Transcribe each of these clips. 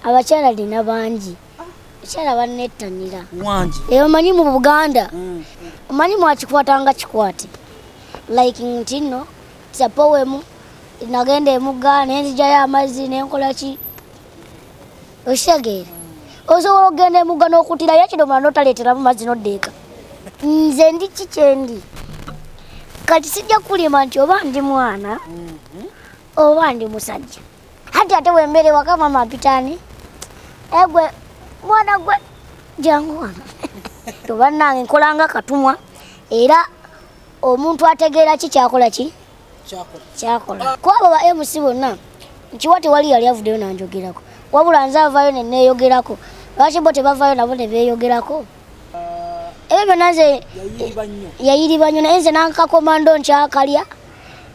abakyala lina bangi abakyala banettanira wangi eyo eh, omanyi mu buganda mm. omanyi mwakikwata nga kikwate like nti nno sapowemu nagenda emugga nenzijayo amazzi nenkola ki okitegeera mm. osobola okugenda emugga n'okutirayo ekidomola notaleeteramu mazzi noddeeka nze ndi ki kyendi kati sijja kulima nti oba ndi mwana mm-hmm. oba ndi musajja hati ate wembere waka mama pitani egwe mwana gwe jangu wano to banange nkolanga katumwa era omuntu ategeera ki kyakola ki kyakola ku abo ba mc bonna nkiwa tewali yali avuddeyo nanjogerako wabula nze avayo neneyogerako lwaki bo tebavayo nabo nebeyogerako ebyo byonna nze yayiriba nnyo naye nze nankakomando nkyakalya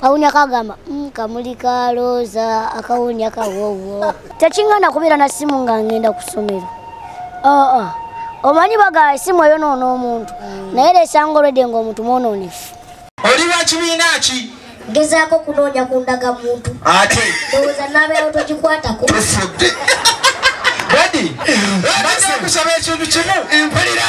kawunya kagamba mm, kamuli ka looza akawunya kawowo tekingana kubeera na simu nga ngenda ku ssomero aa ah, ah. omanyi bagala esimu eyo noona omuntu mm. naye lesanga olwedde nga omuntu mwonoonefu oli wa kibiina ki ngezaako kunoonya ku ndaga muntu ate ndowooza naabeerawo togikwatako tufudde badi baze kusaba ekintu kimu mpulira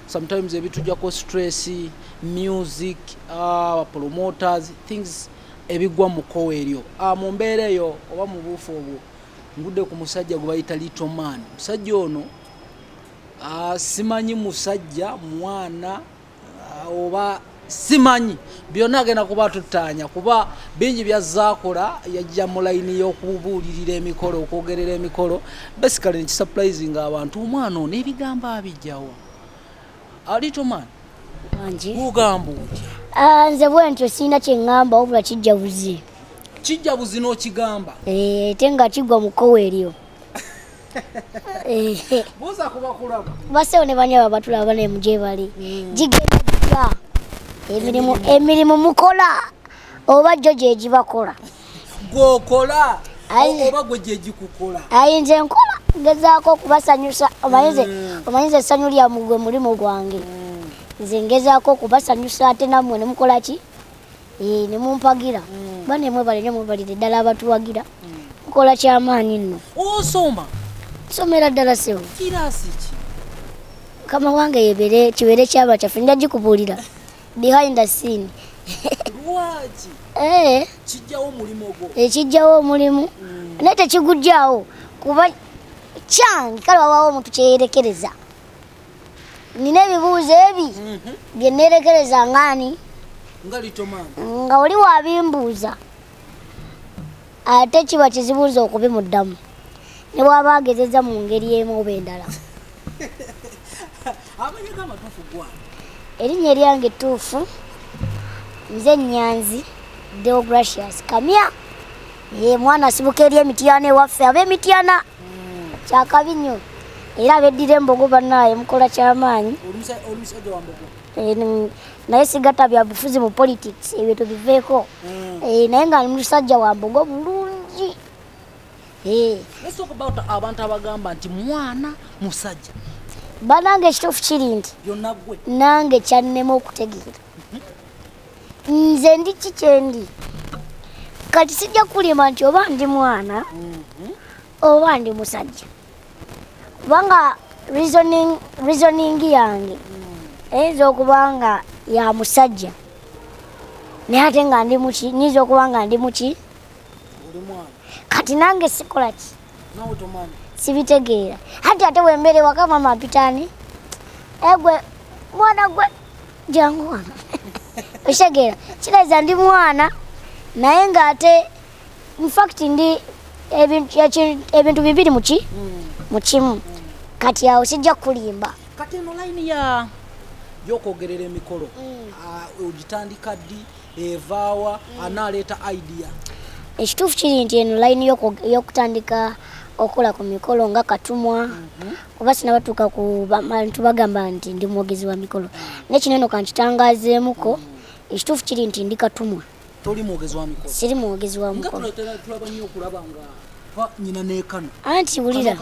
sometimes ebitujako stress music uh, promoters things ebigwa mu kowa eryo uh, mu mbeera eyo oba mu buufu obwo ngudde ku musajja gwe bayita little man musajja ono uh, simanyi musajja mwana uh, oba simanyi byonna agenda kuba tutaanya kuba bingi byazaakola yajja mu layini y'okubuulirira emikolo okwogerera emikolo basically nekisuprising abantu omwana ono ebigambo abijjawa alitoman ugamba otya ah, nze bwentyo sirina kyeŋŋamba wabula kijja buzi kijja buzi n'okigamba eh, ate nga kigwa mukowa eryo buuza kubakulaba basewo ne banyaba batulaba ne muje bali hmm. gigenda gitya emirimu emirimu mukola oba gyo gyegibakola gwokola oba gwe gyegikukola ayi nze nkola ngezaako okubasanyusa omanyize hmm. omanyize essanyu lyamugwe mulimu gwange hmm. nze ngezaako okubasanyusa ate nammwe nemukola ki eh, ne mumpagira mm. bane mwebale nyo mwebalire ddala abatuwagira mukola mm. kyamaanyi nno osoma somera ddala sewo kirasi ki mukama wange yebere kibeere kyaba kyaffe nja gikubuulira behind the scene lwaki eh. kijjawo omulimu ogwo ekijjawo eh, omulimu mm. naye tekigujjawo kuba kyange kale wawaawo omuntu kyeyerekereza nina ebibuuzo ebi mhm. bye neerekereza ngaani nga oli wabimbuuza ate kiba kizibuuza okubimuddamu ne bwaba agezeza mu ngeri emu oba endala erinnya eryange ettuufu nze nyanzi deogratius kamya ye mwana asibuka eri emityana ewaffe ab'emityana kyakabi nyo era beddira embogo banaye mukola kyamaanyi eh, naye sigata bya bufuzi mu politics ebyo tubiveeko hmm. eh, naye nga musajja wa mbogo bulungi eh. abantu abagamba nti mwana musajja banange ekituufu kiri nti nange kyannema okutegeera nze ndi kikyendi kati sijja kulima nti oba ndi mwana mhm. oba ndi musajja kubanga reasoning yange mm. eyinza okuba nga ya musajja naye ate nga ndi muki nyinza okuba nga ndi muki kati nange sikola ki sibitegeera hati ate wembeere waka mama apitaani egwe mwana gwe jangu wano okitegeera kireeza ndi mwana naye ng'ate infact ndi ebintu bibiri muki hmm. mu kimu kati awo kijja kulimba kati eno layini ya yokwogerera emikolo hmm. ah, ogitandika ddi evaawa hmm. anaaleeta idea ekituufu kiri nti eno layini y'okutandika okukola ku mikolo nga katumwa mhm. kuba sinabatuuka ku bantu bagamba nti ndi mwogezi wa mikolo naye kino eno kankitangazeemuko ekituufu kiri nti ndi katumwa siri mwogezi wa mukolo anti wulira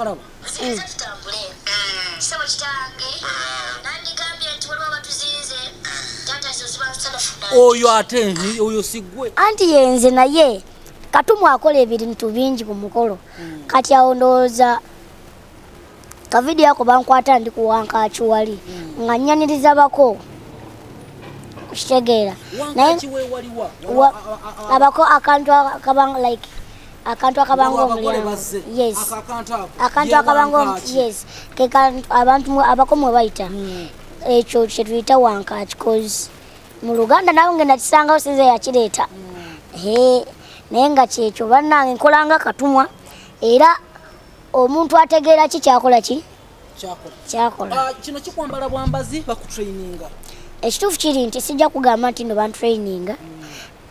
oyo ate oyo sigwe anti yenze naye katumwa akola ebintu bingi ku mukolo hmm. kati awo ndowooza kavidiyo ako bankwata ndi kuwankaaki wali hmm. nga nyaniriza bako okitegeera naye abako akantu akabanga like akantu akabanga omulyango yes akantu akabanga yes kekantu abantu abako mwe bayita hmm. ekyo kyetuyita wankaaki cause mu luganda nawe nge nakisangawo sinze yakireeta hmm. naye nga kyekyo bannange nkolanga katumwa era omuntu ategeera ki kyakola ki kyakola ah, kino kikwambala bwambazi bakutraininga ekituufu kiri nti sijja kugamba nti no bantraininga hmm.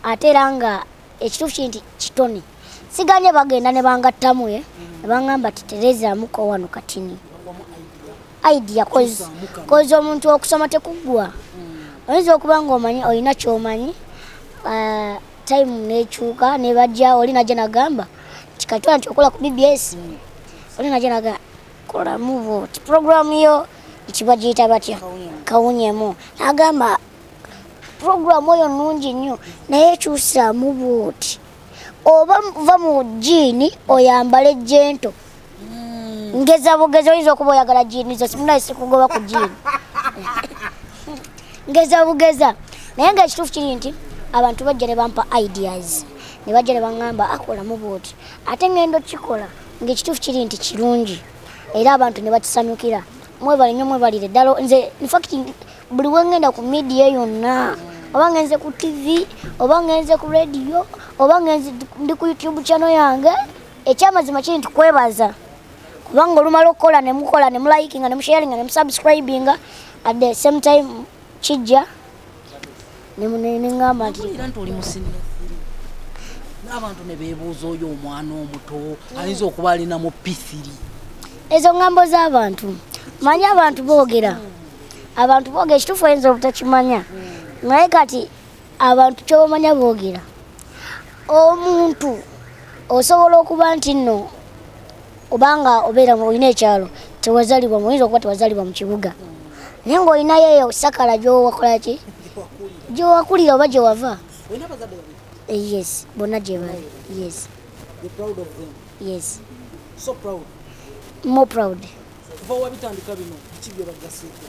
ate era nga ekituufu kiri nti kitone siganye bagenda ne bangattamu e nebangamba ti terezamuko wano katini idea kozi omuntu okusoma tekuggwa hmm. oyinza okuba nga omanyi olina kyomanyi ah, time nekyuka nebajja oli najja nagamba kikatwala nti okola ku bbs oli nga gyeraga kola muvo ti puroguramu yo ekiba giyita batya kawunyemu agamba puroguramu oyo nungi nnyo naye ekyusamu bwoti oba va mu jiini oyambale jento mm. ngeza bugezi oyinza okuba oyagala jiini zo simunaye sikugoba ku jiini ngeza bugeza naye nga ekituufu kiri nti abantu bajja ne bampa ideas ne bajja ne baŋŋamba akolamu ah, bwoti ate ŋŋenda okukikola ng'ekituufu kiri nti kirungi era abantu ne bakisanyukira mwebale nnyo mwebalire ddala nze infacti buli wengenda ku midiya yonna oba ngenze ku tv oba ngenze ku rediyo oba ngenze ndi ku youtube chano yange ekyamazima kiri nti kwebaza kubanga olumala okukola nemukola nemulayikinga nemusharinga nemusubscribinga at the same time kijja neŋamba ntiabantu nebebuuza oyo omwana omuto ayinza okuba alina mu pisiri ezo ŋambo z'abantu manyi abantu boogera abantu boogera ekituufu oyinza obutakimanya naye kati abantu kyobamanya boogera omuntu osobola okuba nti nno kubanga obeera olina ekyalo tewazalibwa muyinza okuba tewazalibwa mu kibuga naye ngaolinayo eyo sakala gyowakolaki gyowakulira oba gyewava eh, yes bonna gyebali yes yes so proud more proud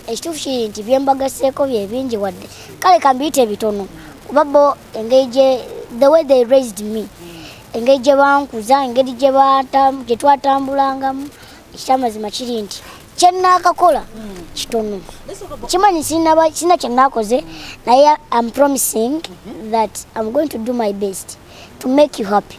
ekituufu kiri nti byembagaseeko byebingi wadde kale kambiyita ebitono kuba bo engeri gye the way they raised me engeri gye bankuza engeri gye twatambulangamu ekyamazima kiri nti kyenaakakola kitono kimanyi sina kyenaakoze naye am promising that am going to do my best to make you happy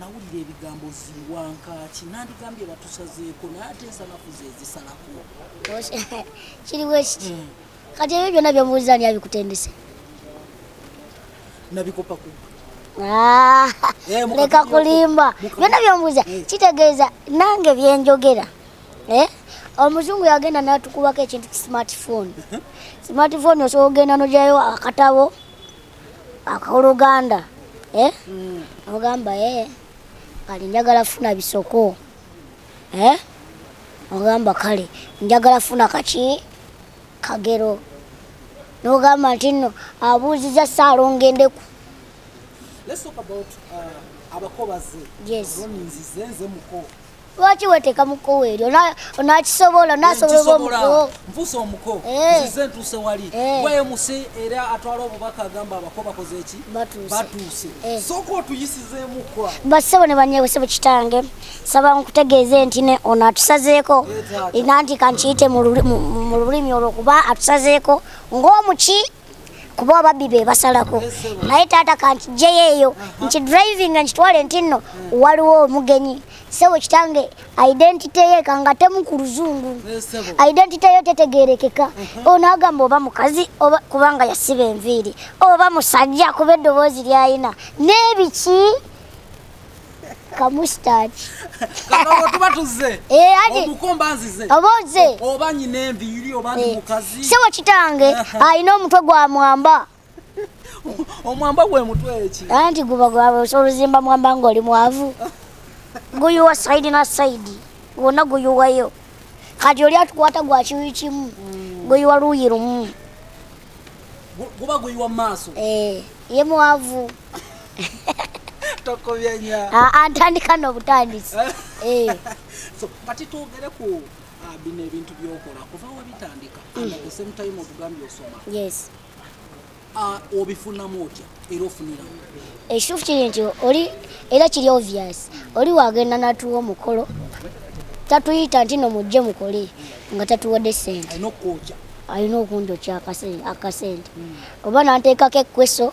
nawulira ebigambo ziwankaaki nandigambye batusazeeko naye ate ensanafu zezisalako kiriwo ekiki hmm. kati ebyo byonna byomuwuliza ani abikutendese nabikopa ku ah, eh, leka kulimba byonna byomubuuza eh. kitegeeza nange byenjogera eh? omuzungu yagenda natukubako ekintu smartphone smartphone osobola ogenda nojayo akatabo akoluganda eh? mm. ogamba eh, kale njagala funa bisoko eh? ogamba kale njagala funa kaki kagero nogamba nti nno abuuziza saala ongendeku uh, abakobazi yes. lwaki weteeka mu kkowe eryo onakisobola nasobola omuko nfuuse omuko eh. nzize ntuuse wali eh. waye muse era atwala obubaka agamba abako bakoze eki batuuse eh. sooka otuyisizeemukko basebo ne banyewesebo kitange saba nkutegeeze nti ne ono atusazeeko nanti kankiyite mu lulimi olwo kuba atusazeeko ng'omuki kuba ababbi be basalako naye taata kankijeyo eyo nti driving nkitwale nti nno waliwo omugenyi sebo kitange identity ye kanga temu ku luzungu identity yo tetegerekeka uh-huh. ono agamba oba mukazi oba kubanga yasiba enviiri oba musajja kuba eddoboozi lyayina n'ebiki kamustaaki kakabo tuba tuzze eh, omukomba nzize oba oze oba nyina enviiri oba ndi eh, mukazi sebo kitange alina omutwe gwa mwamba omwamba gwe mutwe eki anti guba gwabe oluzimba mwamba ng'oli mwavu guyuwa saidi na saidi gwonna guyuwayo kati oli atukwata gwa kiwi kimu mm. guyuwa luuyi lumu guba guyiwa mu maaso eh, ye mwavu tokobyanya ah, ah, ntandika nobutandisi eh. kati twogere ku ah, bino ebintu byokola kuva webitandika mm. the same time otugambye osoma yes obifunamu otya era ofunira ekitufu eh, kiri nti oli era kiri obvious oli wagenda natuwa omukolo tatuyita nti no mujje mukole nga tatuwadde sente alina okunjokya akasente mm. oba nanteekako ekweso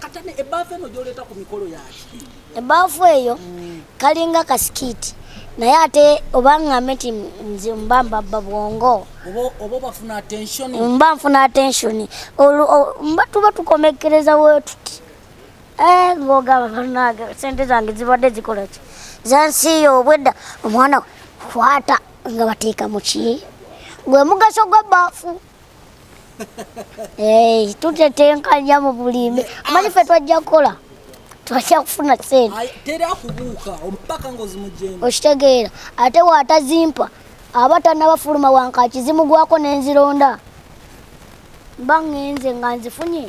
katane ebaafu eno gyoleeta ku mikolo yaki ebaafu eyo kalinga kasikiti naye ate oba ngambe nti nze mba mbabba bwongo mba nfuna attention mba tuba tukomekereza wetuti eh, ngogamba banange sente zange zibadde zikolaki zansiiyo obwedda omwana kwata nga bateeka muki gwe mugaso gwa baafu Eh, tutetenkanya mu bulimi amanyi fe twajja kukola twajja kufuna senteokitegeera ate waatazimpa aba tanabafuluma wankaki zimugwako nenzironda mba ngenze nga nzifunye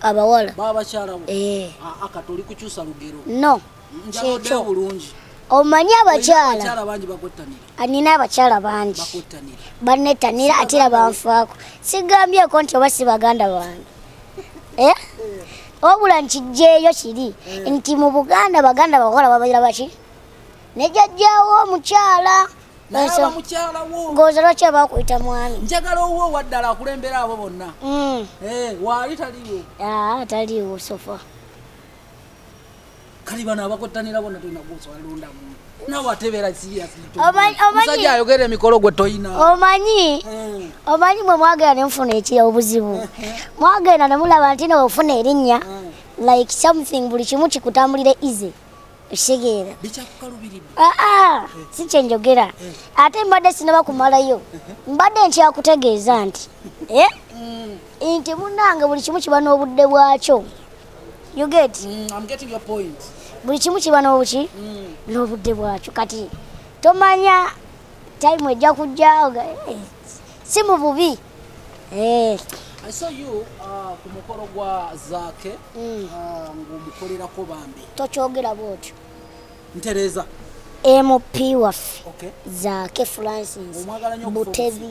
abawala babakyalawo eh. ah, kati oli kukyusa lugero no njaodde bulungi omanyi abakyala anina abakyala bangi banetanira ate era banfaako sigambyeko nti oba si baganda bange eh? eh. wabula nkijjeeyo kiri eh. nti mu buganda baganda bakola babaira baki ne jajjaawo omukyala ng'ozalwa kye bakuyita mwami njagala owuwo owaddala akulembera abo bonna mm. eh, waali taliwo ah, taliwo sofa kali bano abakottanira bona tolina gwosowalondamu nawe atebeera siyasmusajja ayogera emikolo gwe toyina omanyi eh. omanyi mwe mwagenda nemufuna ekiya obuzibu eh, eh. mwagenda nemulaba nti newefuna erinnya like something buli kimu kikutambulire easy ekitegeera aa ah, ah, si kyenjogera ate mbadde sinaba kumalayo mbadde nkyakutegeeza nti eh? mm. nti munange buli kimu kiba n'obudde bwakyo you get mm, I'm getting your point buli kimu kiba nobuki mm. nobudde bwakyo kati tomanya time ejja kujja eh, si mu bubi Eh. I saw you uh, ku mukolo gwa Zaake mm. uh, ng'omukolerako bambi. Tokyogera bw'otyo. Ntereza. MP waffe okay. Zaake Francis Butebi.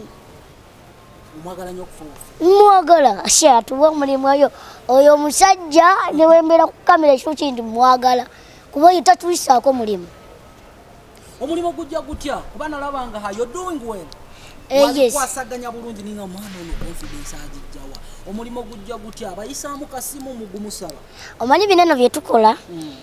Omwagala nnyo okufa obufi. Mwagala ashe atuwa omulimu oyo oyo omusajja ne wembeera ku kamera ekyo kindi mwagala kuba oyo tatuyisaako mulimu. omulimu gujja gutya kuba nalaba nga hayo doing well eh, wazikwasaganya bulungi ninga omwana ono confidence agijjawa omulimu gujja gutya abayisaamu kasimu mugumusaba omanyi bineno byetukola hmm.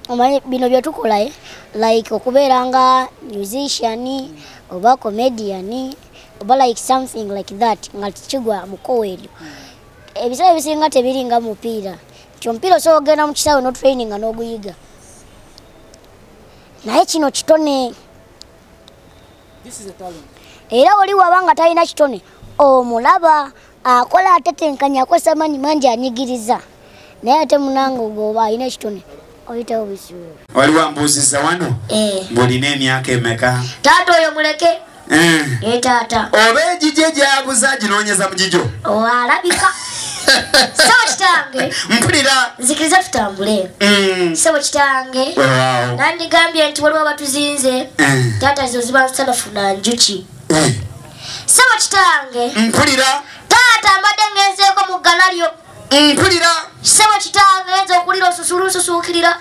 omanyi bino byetukola eh? like okubeera nga musician hmm. oba comedian oba like something like that nga kigwa mukowa eryo hmm. ebiseera ebisinga tebiringa mupiira kyomupiira osobola okugenda mu kisaawe notraininga n'oguyiga naye kino kitone era oli waba nga talina kitone omulaba akola atetenkanya akozesa amaanyi mangi anyigiriza naye ate munanga ogooba alina ekitone oyitawo bisiwuo wali wambuuziza wano eh. ng'olina emyaka emeka taata oyo muleke Eh. Eh, taata oba egijo egyabuza ginoonyeza mu gijo alabika sebo kitange mpulira nzikiriza tutambule mm. sebo kitange nandigambye nti waliwo abatuzinze eh. taata zino ziba nsanafu na njuki sebo kitange mpulira taata mbadde ngenzeeko mu gganalyo mpulira sebo kitange nze okulira osusula osusuukirira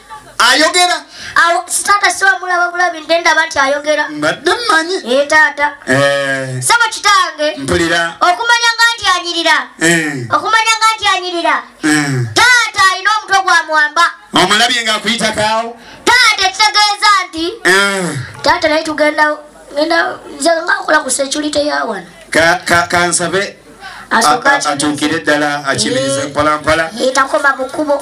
ayogera taata siwa mulaba bulabi nte ndaba nti ayogera mbadde mmanyi ee taata eh. sebo kitange mpulira okumanya nga nti anyirira eh. okumanya nga nti anyirira eh. taata alina omutwe gwa mwamba omulabye nga akuyitakawo taata ekitegeeza nti taata naye tugenda nze ngakola ku security yawana kansabe atuukire ddala akimiriza mpolampola takoma mu kkubo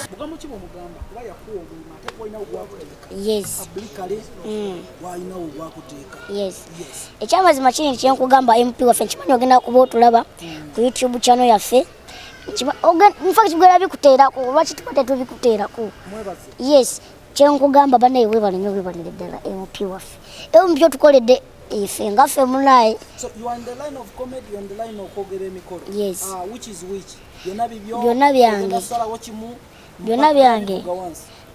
ekyamazima kiri nti kyenkugamba mp waffe nkimanyi ogenda kuba otulaba ku youtube channel yaffe nfa kigwera bikuteerako oba kituba tetubikuteerako yes kyenkugamba banaye webalinyo webalire ddala mp waffe ewo mubyotukoledde ife nga ffe munaye byonna byange byonna byange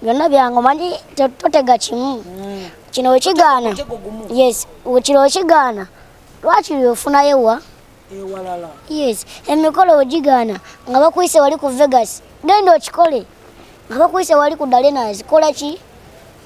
byonna byange omanyi totega kimu hmm. kino wekigaana yes kino wekigaana lwaki lyofunayo wa yes emikolo wegigaana nga bakuyise wali ku vegas genda okikole nga bakuyise wali ku dalenas kola ki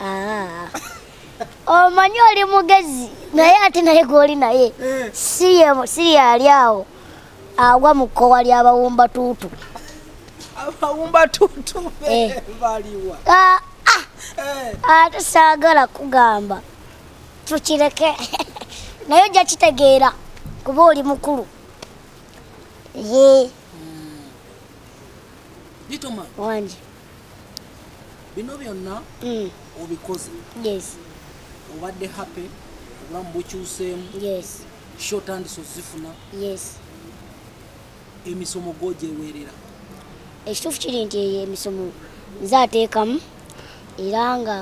Ah. omanyi oli mugezi naye ate naye gwoli naye eh. siri ali awo agwa mu kkowa ly'abawumba tuutu abawumba tuutu eh. baliwa ah, ah. eh. ate saagala kugamba tukireke naye ojja kitegeera kuba oli mukulu ye hmm. wangi bino byonna mm. obikoze yes obadde happy obulamu bukyuseemu yes sho otandise ozifuna yes emisomo gogyeweerera ekituufu kiri nti eyo emisomo nze ateekamu era nga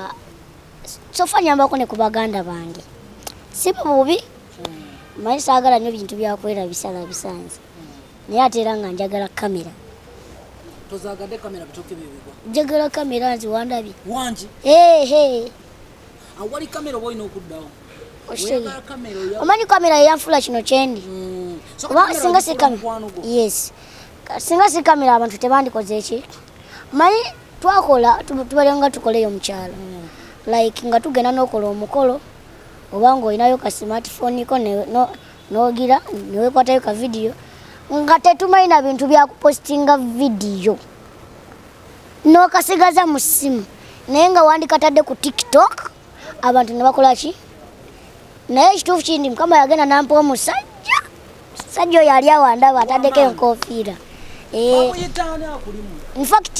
sofa nyambako ne ku baganda bange si bububi mm. manyi saagala nnyo bintu byakwerabisalabisanze naye ate era nga njagala kamera tozagade kamera bitoke bibigwa njagala kamera nzi wandabye wangi ehe awali kamera oba olina okuddawo omanyi kamera yeyanfula kino kyendi mm. singa si kamera yes singa si kamera abantu tebandikoze ki manyi twakola tubaleo nga tukoleyo mukyalo mm. like nga tugenda nokola omukolo oba nga olinayo ka smartphone ko nogira newekwatayo ka vidiyo nga tetumanyi na bintu byakupositinga vidiyo nokasigaza mu simu naye nga wandikatadde ku tiktok abantu nebakolaki naye ekituufu kindi mukama yagenda nampa omusajja musajja oyo ali awandaba ataddeko enkofiira eh, infact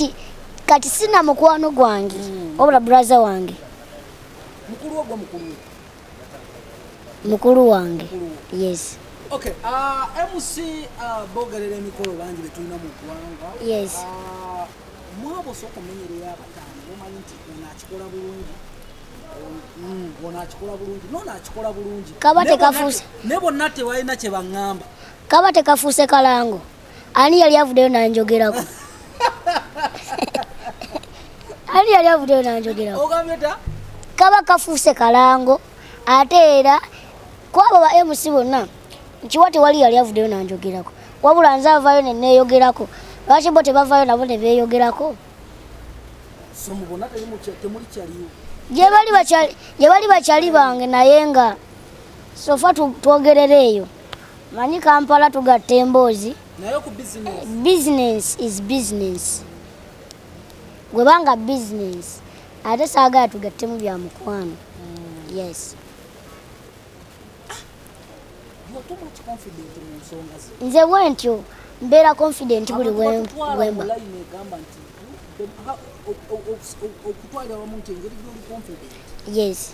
kati sina mukwano gwange hmm. obula braza wange mukulu ogwo mukulu mukulu wange yes okay uh, mc uh, bogerera emikolo bangi betulina mu ggwanga yes uh, mwabo osoka omenyerera abataano bomanyi nti ono akikola bulungi mm, ono akikola bulungi nono akikola bulungi kaba tekafuuse ne bonna tewalina kye baŋŋamba kaba tekafuuse kalango ani yali avuddeyo nanjogerako ani yali avuddeyo nanjogerako kaba kafuuse kalango ate era kwabo ba mc bonna nkiwa tewali yali avuddeyo nanjogerako wabula nze avayo neneyogerako lwaki bo tebavayo nabo nebeyogerako gyebali bakyali bange naye nga sofa twogerera eyo manyi kampala tugatta emboozi business is business gwebanga business ate saagala tugattemu bya mukwano hmm. yes nze bwentyo mbeera confident buli wemba yes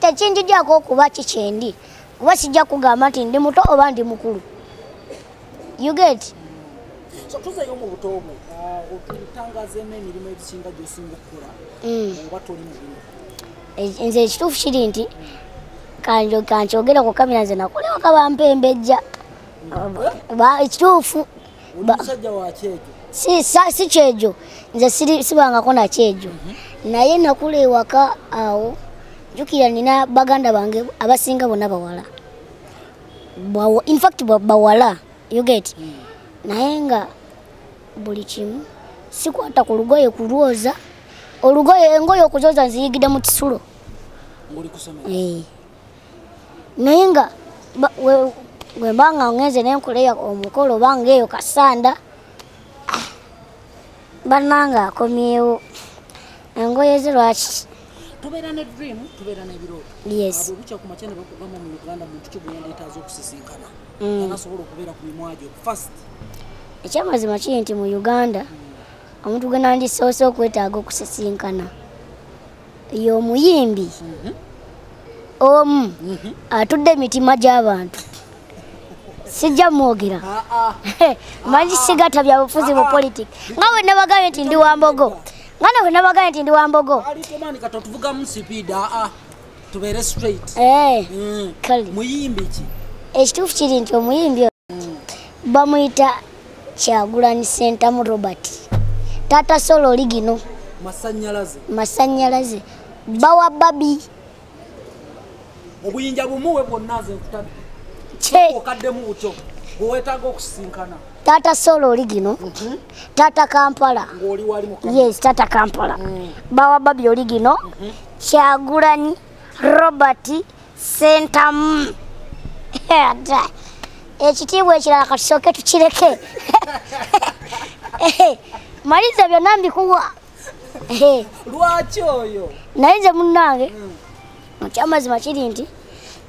tekinjijako okuba kikyendi kuba sijja kugamba nti ndi muto oba ndi mukulu you get so tuzeyo mu buto obwo uh, otutangazeemu emirimu egisinga gyosinga okukola mm. oba toli mubino e, nze ekituufu kiri nti kankyogera ku kamera nze nakolewa kabampembejja mm. ekituufu si kyejo nze sibangako nakyejo mhm. naye nakula ewaka awo njukira nina baganda bange abasinga bona bawala infact bawala uget mm. naye nga buli kimu sikwata ku lugoye kulwoza olugoye engoye okuzoza nziyigide mu kisulo naye nga wemba nga ngenze nenkoleya omukolo oba ngaeyo kasanda ah, bananga akomyewo engoye ze lwaki tubeera ne dream tubeera nebirooto yes olukya ku makya ne bakugamba mu uganda muntu ki gweyandeetaaza okusisinkana mm. anasobola okubeera ku mimwa gyo fast ekyamazima kiri nti mu uganda omuntu gwe nandisoose okwetaaga okusisinkana ye omuyimbi mhm. omu mhm. atudde emitima gy'abantu sijja mwogera ah, ah. manyi ah, sigata byabufuzi mu politik nga we nabagambye nti ndi wa mbogo nga nawe nabagambye nti ndi wa mbogo eh, mm. ekituufu kiri nti omuyimbi bamuyita kyagulanyi sentamu robert taata sola oli gino masanyalaze bawa babi obuyinja bumuwe bwonna nze nkutabi okaddemu butyo bwewetaaga okusisinkana taata sola oli gino mhm. taata kampala yes taata kampala mm. bawa babi oli gino mhm. kyagulanyi robert sentamu ekitiibwa ekirala katusooke tukireke maliza byonna mbikuwa lwaki oyo naye nze munnange ekyamazima hmm. kiri nti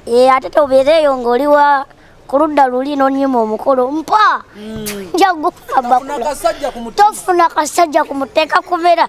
eh, ate tobeereeyo ng'oli wa ku ludda luli nonyima omukolo mpa hmm. njagufa bakula tofuna kasajja kumuteeka kubeera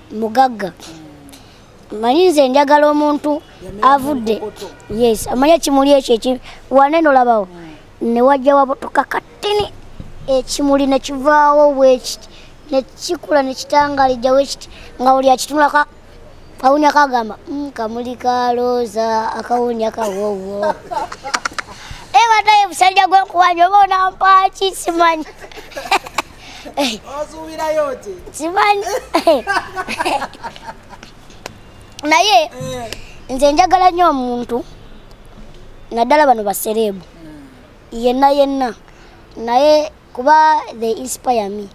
mugagga manyi nze njagala omuntu avudde yes amanya ekimuli ekyo eki wanene olabawo hmm. ne wajja wabutuka katini ekimuli ne kivaawo bwekiti ne kikula ne kitangalijja wekiti nga oli akitunulako kawunya kagamba hmm, kamuli ka looza akawunya kawowo ebataye eh, busajja gwenkuwanya oba onampaaki simanyi Eh. osuubirayo ki kimanyi naye eh. nze njagala nnyo omuntu naddala bano basereebu hmm. yenna yenna naye kuba the inspire me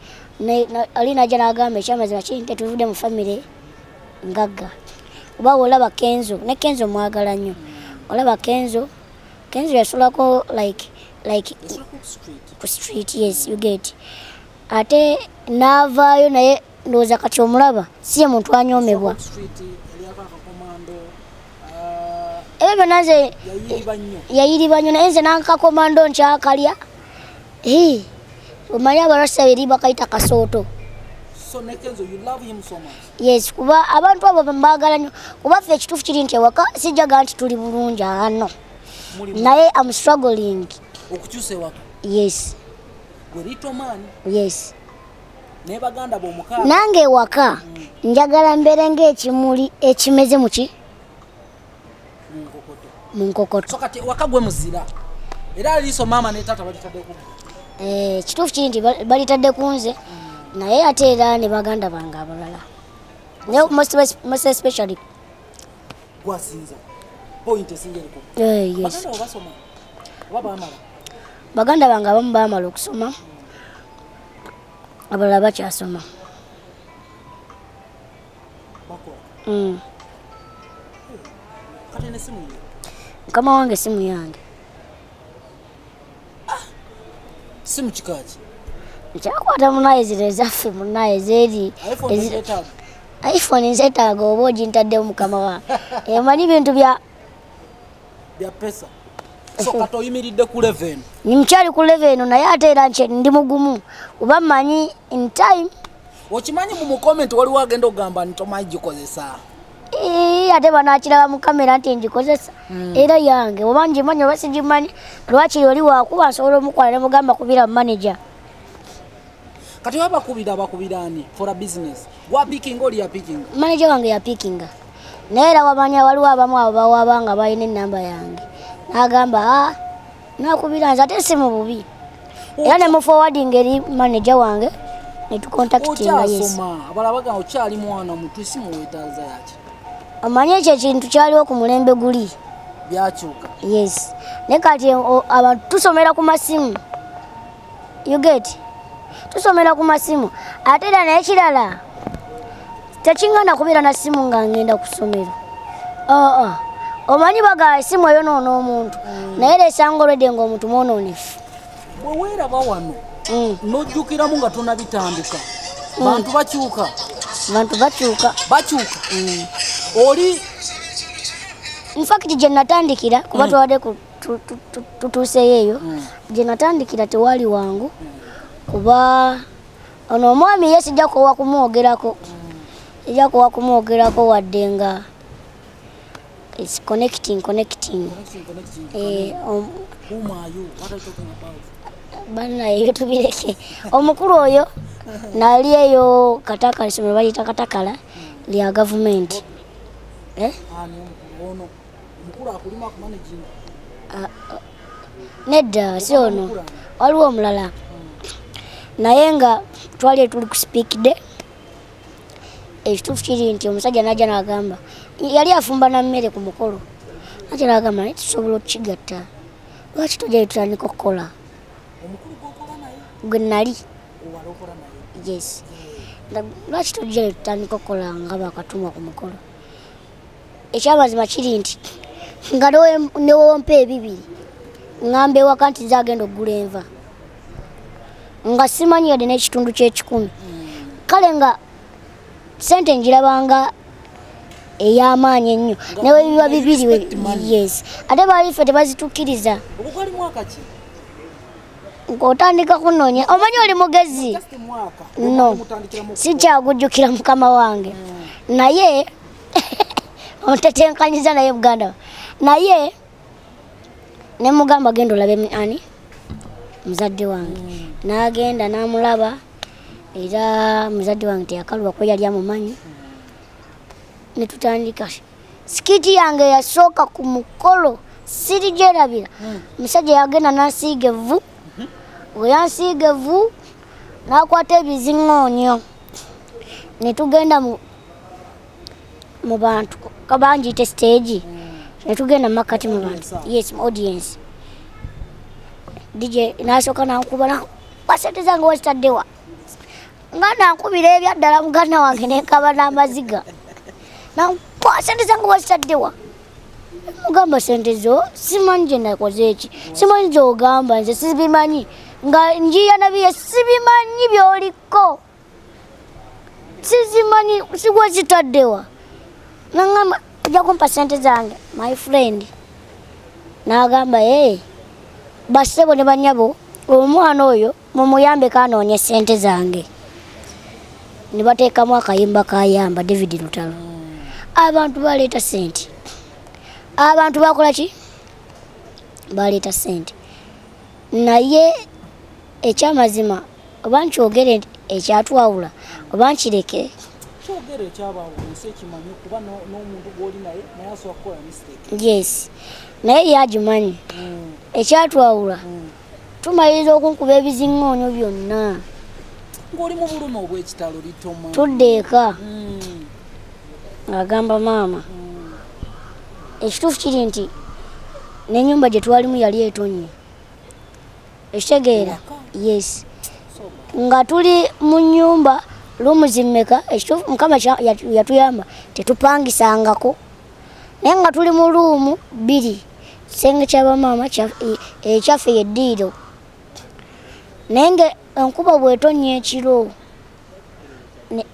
ali naja nagamba ekyamazima kiri nti tuvude mu famire ngagga kuba olaba kenzo ne kenzo mwagala nnyo olaba kenzo Kenzo yasulako like like ku street yes you get ate navaayo naye ndowooza kati omulaba si ye muntu anyomebwa ebyo byonna nze yayiriba nnyo naye nze nankakomando nkyakalya omanyi abarasa eri bakayita kasooto yes kuba abantu abo bembaagala nyo kuba ffe ekituufu kiri nti ewaka sijjaga nti tuli bulungi ano naye am struggling okukyusa ewaka yes yes nange ewaka mm. njagala mbeere ngaekimuli ekimeze muki mu nkokoto so kati waka gwe muzira era aliiso maama ne taata balitadde ku eh, kituufu kiri nti balitadde ku nze naye ate era ne baganda bange abalala most especially gwasinza point esinga eriko eh, yes. baganda bange abamu baamala okusoma abalala bakyasoma Mm. mukama wange simu yange simu kikaki nkyakwata munaye zino ezaffe munaye zeri iphone nzetaaga oba ogintadde mukama wa emanyi eh, bintu bya byapesa sokata oyimiridde ku leven nimukyali ku leven naye ate era nti ndi mugumu oba manyi in time okimanyi mu mukomenti waliwo agenda okugamba nti omanyi gikozesa eh, ate banakiraba mu kamera nti ngikozesa hmm. era yange oba ngimanyi oba sigimanyi lwakiri oli wakuba nsobola omukwala nemugamba kubira mu manaja kati oba bakubira bakubira ani for a business wapikinga oli yapikinga manaja wange yapikinga naye era wamanya waliwo abamu abo bawaba nga balina enamba yange nagamba ah, nakubira nze ate si mu bubi era ne mufowadinga eri manaja wange netukontaktingaabalabaga okyali mwana mutu si muwetaza yaki omanyi ekyo ekintu kyaliwo ku mulembe guli byakyuka yes naye kati abantu tusomera ku masimu you get tusomera ku masimu ate era naye kirala tekingana kubeera na simu nga ngenda ku ssomero aa omanyi bagala esimu eyo noona omuntu mm. naye era esanga olwedde nga omuntu mwononefu bweweeraba wano mm. nojjukiramu nga tonabitandika mm. bantu bakyuka bantu bakyuka bakyuka oli nfakiti gye natandikira kuba twabadde tutuuseyo eyo hmm. gye natandikira tewali wangu kuba ono omwami ye sijja kuwa kumwogerako hmm. sijja kuwa kumwogerako wadde nga is connecting connecting eh, um, banaye tubireke omukulu oyo nali eyo katakala somero bayita katakala lya gavumenti eh? Ah, ah. nedda si ono waliwo omulala naye nga twali etuli ku sipiikide ekituufu kiri nti omusajja najja nagamba yali afumba na mmere ku mukolo najja nagamba naye tusobola okukigatta lwaki tojja yetutandika okukola gwe nali yes lwaki tojja yetutandika okukola nga bakatuma ku mukolo ekyamazima kiri nti nga newompa ebibiri ŋamba ewaka nti nze agenda okugula enva nga simanyi yadde n'ekitundu ky'ekikumi kale nga sente njirabanga ey'amaanyi ennyo newe biba bibiri yes ate baali ffe tebazitukkiriza ng'otandika kunoonya omanyi oli mugezi no sikyagujjukira mukama wange hmm. naye ontetenkanyiza naye buganda naye nemugamba genda olabe ani muzadde wange mm. nagenda namulaba era muzadde wange teyakaluba kuba yali amumanyi netutandika sikiti yange yasooka ku mukolo siri gyerabira mm. musajja yagenda nasiiga evvu mm-hmm. weyansiiga evvu n'akwata ebiziŋoonyo ne tugenda mu bantu kabangiite siteegi ne tugenda mu makkati mu bantu yes mu audience dj n'asooka nankuba basente zange wazitaddewa nga nankubira ebyaddala muganda wange nenkaba n'amaziga nankubasente zange wazitaddewa mugamba sente zo simanyi gye nakoze eki simanyi gyogamba nze sibimanyi nga njiya nabiye sibimanyi byoliko sizimanyi sigwa zitaddewa nangamba ajja kumpa sente zange my friend nagamba e basebo ne banyabo omwana oyo mumuyambe kanoonye sente zange nibateekamu akayimba kayamba david lutalo abantu baleeta sente abantu bakola ki baleeta sente naye ekyamazima oba nkyogere ekyatwawula oba nkireke yes naye yagimanyi hmm. ekyatwawula hmm. tumaliriza okunkuba ebiziŋŋoonyo byonna ng'oli mu bulumi obw'ekitalo litoma tudde eka hmm. agamba maama hmm. ekituufu kiri nti n'enyumba gye twalimu yali etonye ekitegeera yes nga tuli mu nyumba lumuzimmeka ekituufu mukama yatuyamba tetupangisangako naye nga tuli mu luumu bbiri kisenge kyabamaama ekyaffe eh, yeddiiro naye nga enkuba bwetonya ekiro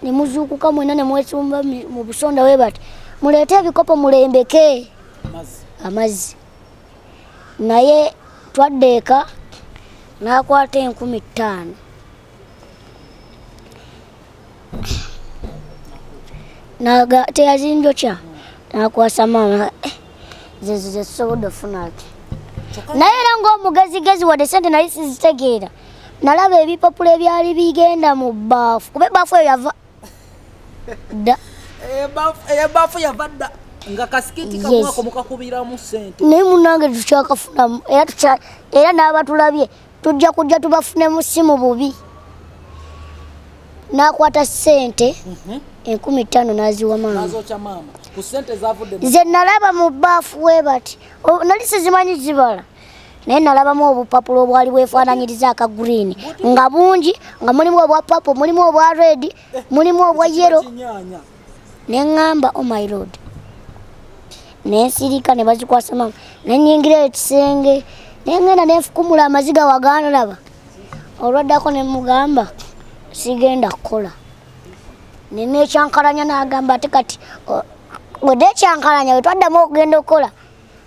nemuzuukuka mwena nemwesumba mu busonda we bati muleete ebikopo mulembeke amazzi naye twadde eka n'akwata enkumi ttaano naga teyazinjokya nakwasa maama eh, zezo zetusobodde ofuna ati naye era ngaomugezigezi wadde sente nali sizitegeera nalaba ebipapula ebyali bigenda mu baafu kuba ebaafu eyo yava dda ebaafu eh, eh, yava dda nga kasikiti kamwako mukakubiramu sente naye munange tukyakafunamu era era n'abatulabye tujja kujja tubafunemu si mu bubi n'akwata ssente mhm. enkumi ttaano n'aziwa maama nze nalaba mu baafu we bati nali sizimanyi zibala naye nalabamu obupapula obwali bwefaananyiriza aka green nga bungi nga mulimu obwa papo mulimu obwa red mulimu obwa yero ne ŋŋamba o oh my lord ne nsirika ne bazikwasa maama ne nyingira ekisenge ne ŋŋenda ne nfukumula amaziga waganlaba olwaddako ne mugamba sigenda kukola ne nekyankalanya n'agamba ate kati wede ekyankalanya wetwaddamu okugenda okukola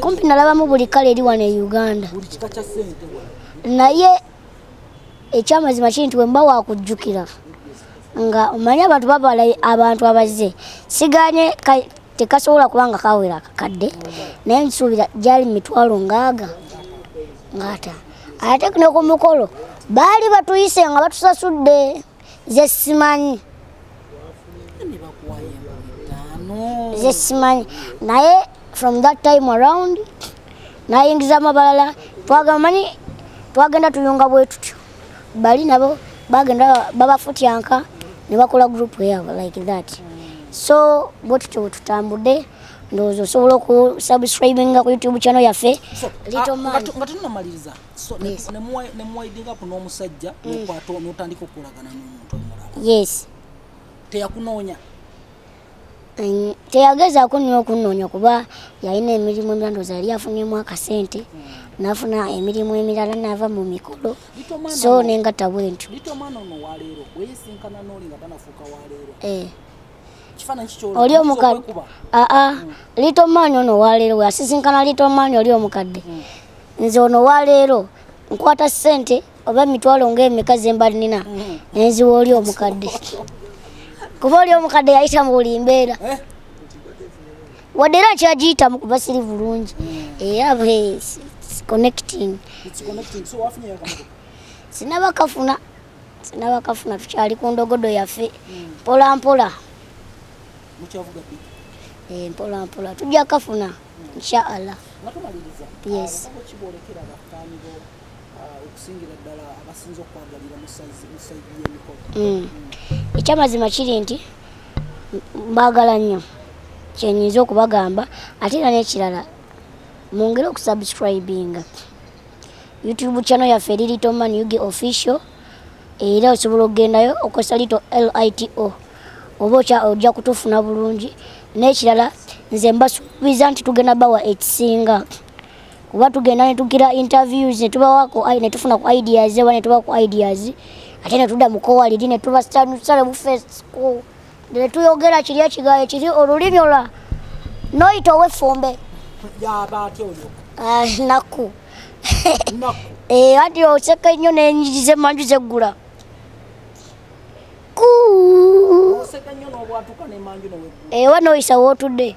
kumpi nalabamu buli kale eri wano e uganda naye ekyamazima kiri nti wemba wakujjukira nga omanyi abantu babala abantu abazze siganye tekasobola kuba nga kawera kakadde naye nsuubira gyali mitwalo ngaaga ngaata ate ku ne ku mukolo baali batuyise nga batusasudde nze simanyi nze simanyi naye from that time around nayingiza amabalala twagamanyi twagenda tuyunga bwetutyo bali nabo bagenda babafutyanka nebakola group yabo like that so bwetutyo bwetutambudde ndowooza osobola okusubscribinga ku youtube channel yaffe ah, nga tunomaliriza nemuwaidinga ku n'omusajja mm. nokwata notandika okukolagana n'omuntu omulala yes teyakunoonya teyagezaako nyo okunoonya kuba yalina emirimu emirala ndoza yali afunyemu akasente mm. nafuna emirimu emirala nava mu mikolo so nengatta bwentyo oli omukadde aa little man ono waleero weasisinkana little man oli omukadde hmm. nze ono waleero nkwata sente oba emitwalo ngaemeka zemba nina hmm. nenziwa oli omukadde kuba oli omukadde yayita mu buli mbeera eh? wadde era nkyagiyitamu kuba siri bulungi era connecting sinaba kafuna sinabakafuna tukyali ku ndogodo yaffe mpolampola eh, mpolampola tujja kafuna inshaallah yes mm. ekyamazima kiri nti mbagala nnyo kyenyinza okubagamba ate era nekirala mungere okusubscribinga youtube channel yaffe eri little man ug official era osobola okugendayo okozesa lito lito oba ojja kutufuna bulungi n'ekirala nze mbasuubiza nti tugenda bawa ekisinga kuba tugenda netugira interviews netubawako netufuna ku ideas oba netuba ku ideas ate netudda mukowaliri netubasanyusa nebufesko ne tuyogera kiri ekigaye kiri olulimi olwa noyita ow'effumbe ah, nakku eh, ati oseka nnyo n'enyigi z'emmanju zeggula ewa eh, noyisa wootudde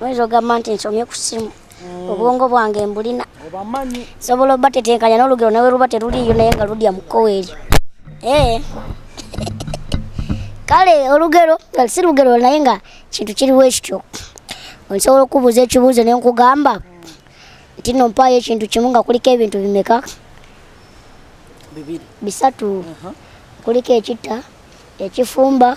oyinza ogamba nti nsomye ku simu mm. obwongo bwange mbulina sobola oba tetenkanya n'olugero nawe luba teruliiyo naye nga ludya mu kkowa eryo ee eh. kale olugero si lugero naye nga kintu kiriwo ekityo nsobola okubuuza ekibuuzo ne nkugamba nti no mpaayo ekintu kimu nga kuliko ebintu bimeka bisatu kuliko ekitta ekifumba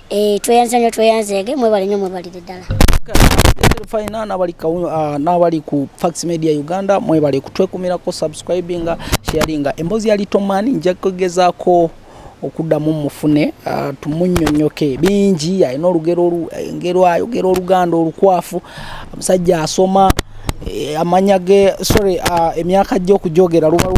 Eh, tweyanza nyo tweyanzeege mwebale nyo mwebalire ddala fina n'abali ah, ku fax media uganda mwebale kutwekumirako subscribinga sharinga emboozi ya litoman nja kugezaako okuddamu mufune ah, tumunyonyoke bingi alina olugero engero ayogera oluganda olukwafu omusajja asoma eh, amanya ge sorry ah, emyaka gye okujogera lubalu